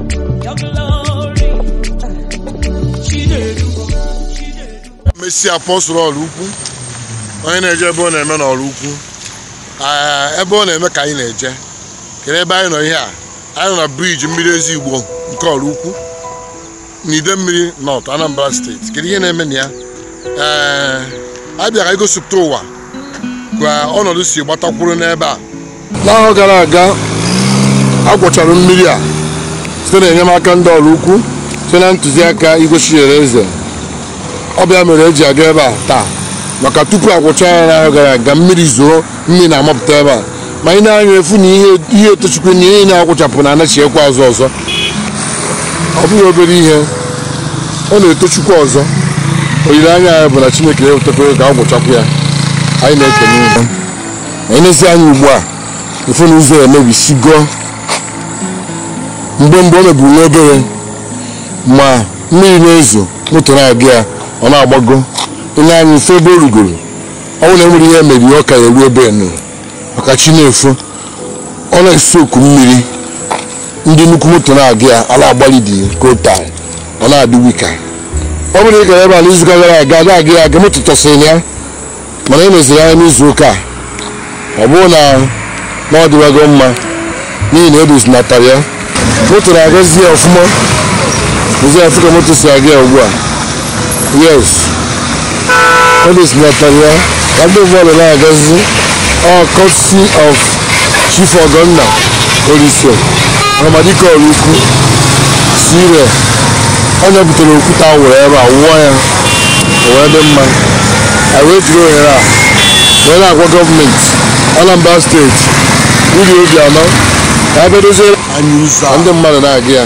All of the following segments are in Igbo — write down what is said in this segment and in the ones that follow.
Your glory. Chinedu. mesi apọstụl Ọraukwu onye na-eje ebe ọ na-eme n'Ọraukwu Ee, ebe ọ na-eme ka anyị na-eje kedu ebe anyị nọ ihe a anyị nọ na briji mmiri ezi igbo nke Ọraukwu n'Idemili nọt anambra steeti kedu ihe na-eme na ya ee a bịara igosipụta ụwa ka ọnọdụ si gbata kwụrụ n'ebe a n'ahọ gara aga a gwọchara mmiri a site na enyemaka ndị Ọraukwu site na ntụziaka Igwe Chinyereze ọ bụ ya mere e ji aga ebe a taa maka tupu a gwọcha ya n'ahọ gara aga mmiri zoo mmiri na-amapụta ebe a ma i nee anya ị fụ na ihe ihe etochikwa na ihe na-agwụchapụ na anachiekwa azụ ọzọ ọ bụghị obere ihe ọ na-etochikwa ọzọ olileanya anyị bụ na chineke ya ewetakwa ka a gwụchapụ ya anyị na-ekene unu i nesie anya ugbu a ị fụ na ụzọ emebisigo mgbe mgbe o mebiri nwa obere ma mmiri na-ezo moto na-aga ya ọ na-agbago i nee anya ị fụ ebe o rugoro ọ bụrụ na enwere ihe mere ihe ọ ka ya eru ebe enu maka chi na-efo ọ na-esi oku mmiri ndị nnukwu moto na-aga ya ala agbalị dị ka o taa ọ na-adị weaker ọ bụrụ na ị gara ebe a n'izuụka gara aga na-aga ya aga moto tọsịrị ya mana i neziri anya n'izu ụka a ọ bụrụ na na ọ dịwago mma n'ihi na edozinatara ya moto na-agazi ya ọfụma nesie ya fụ ka moto si aga ya ugbu a yes edozinatara ya ka ndị ụgbọala na-agazi ọ courtesy of Chief Ọgọnna Olise Ahamadike Ọraukwu sire onye butere okwute a wụrụ ebe a wụọ ya o wee dị mma anyị wee jiri ohere a wee na-agwa gọọmenti Anambra steeti Willie Obiano ka a bịa dozie anyị ụzọ a. ndị mmadụ na-aga ya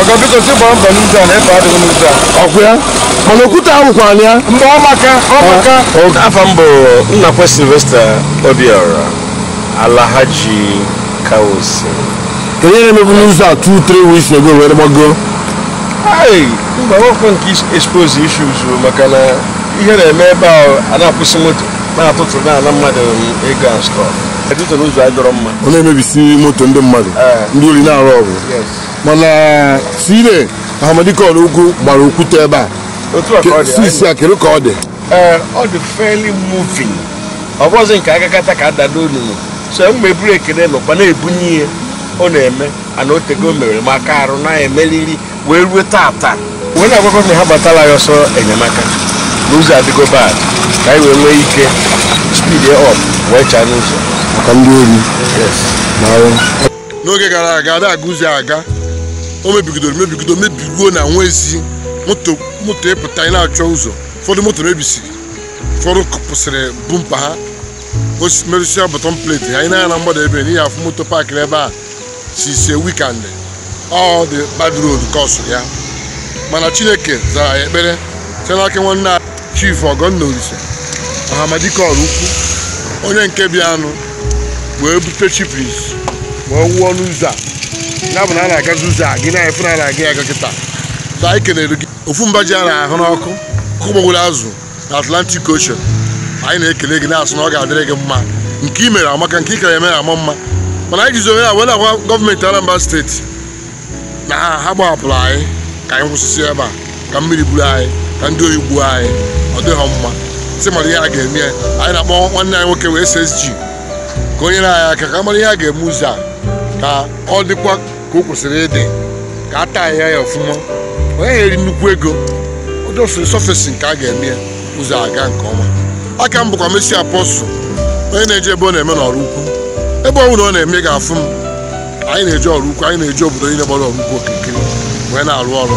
ọga biko si gbaa mbọ n'ụzọ a na efe adịghị n'ụzọ a ọkwụ ya mana okwute awụkwala ya mgbe ọ maka ọ maka afa mbụ nnakwe silvester obiora alahaji kaosi kedu ihe na-emebu n'ụzọ a 2 3 weeks ago wee gbago Hey, mba ọkwa nke is- expose issues o, maka na ihe na-eme ebe a a na-akwụsị moto na-atụtụ na-ana mmadụ ego and stuff ọ na-emebisi moto ndị mmadụ ndị ori na-arob mana sire ahamadike Ọraukwu gbara okwute ebe a sisi a kedu ka ọ dị ọ dị fairly moving ọ bụzi nke agakata ka ada n'olulu so mgbe eburu ekele nọkwa na-ebunye ihe ọ na-eme and o tego o mewere maka arụ na-emeriri wee ruo tata wee na-agwakọ na ha gbatala ya ọsọ enyemaka na ụzọ adịgo bad ka anyị wee nwee ike speed up wee chaa n'ụzọ maka ndị ori n'oge gara aga ada aga ụzọ a aga o mebigidoro mebigido mebiguo na enwezi moto moto ịpụta ị na-achọ ụzọ ụfọdụ moto mebisiri ụfọdụ kụpụsịrị bumper ha merụsịa bottom plate anyị na-anya na mgbada ebe n'ihi afụ moto paakịrị ebe a since weekend ọ dị bad road kọsụrụ ya mana chineke zara ya ekpere site n'aka nwanne anyị Chief Ọgọnna Olisa Ahamadike Ọraukwu onye nke bịanụ wee bute chippings wee wụọ n'ụzọ a ya bụ na a na-agazi ụzọ a gị na-afụ na a na-aga ya aga kịta so anyị kelere gị ofu mba ji a na-ahụ n'ọkụ ọkụ gburu azụ Atlantic Ocean anyị na-ekele gị na-asị na ọ ga-adịrị gị mma nke i mere amaka nke ị ka-eme ama mma mana anyị jizi ohere a were agwa gọọmenti Anambra steeti na ha agbahapụla anyị ka anyị nwụsịsịa ebe a ka mmiri buru anyị ka ndị oyi gbuo anyị ọ dịghị mma sị mara ihe a ga-eme ya. anyị na-akpọ nwanne anyị nwoke wụ SSG ka o nyere anyị aka ka a mara ihe a ga-eme ụzọ a ka ọ dịkwa ka o kwesịrị ịdị ka a taa ya ya ọfụma ọ ya-eri nnukwu ego ụdị surface nke a ga-eme ya ụzọ aga nke ọma aka m bụkwa Mercy Apostle onye na-eje ebe ọ na-eme n'Ọraukwu ebe ọ bụla ọ na-eme ị ga-afụ m anyị na-eje Ọraukwu anyị na-eje obodo niile gbara Ọraukwu okirikiri wee na-arụ ọrụ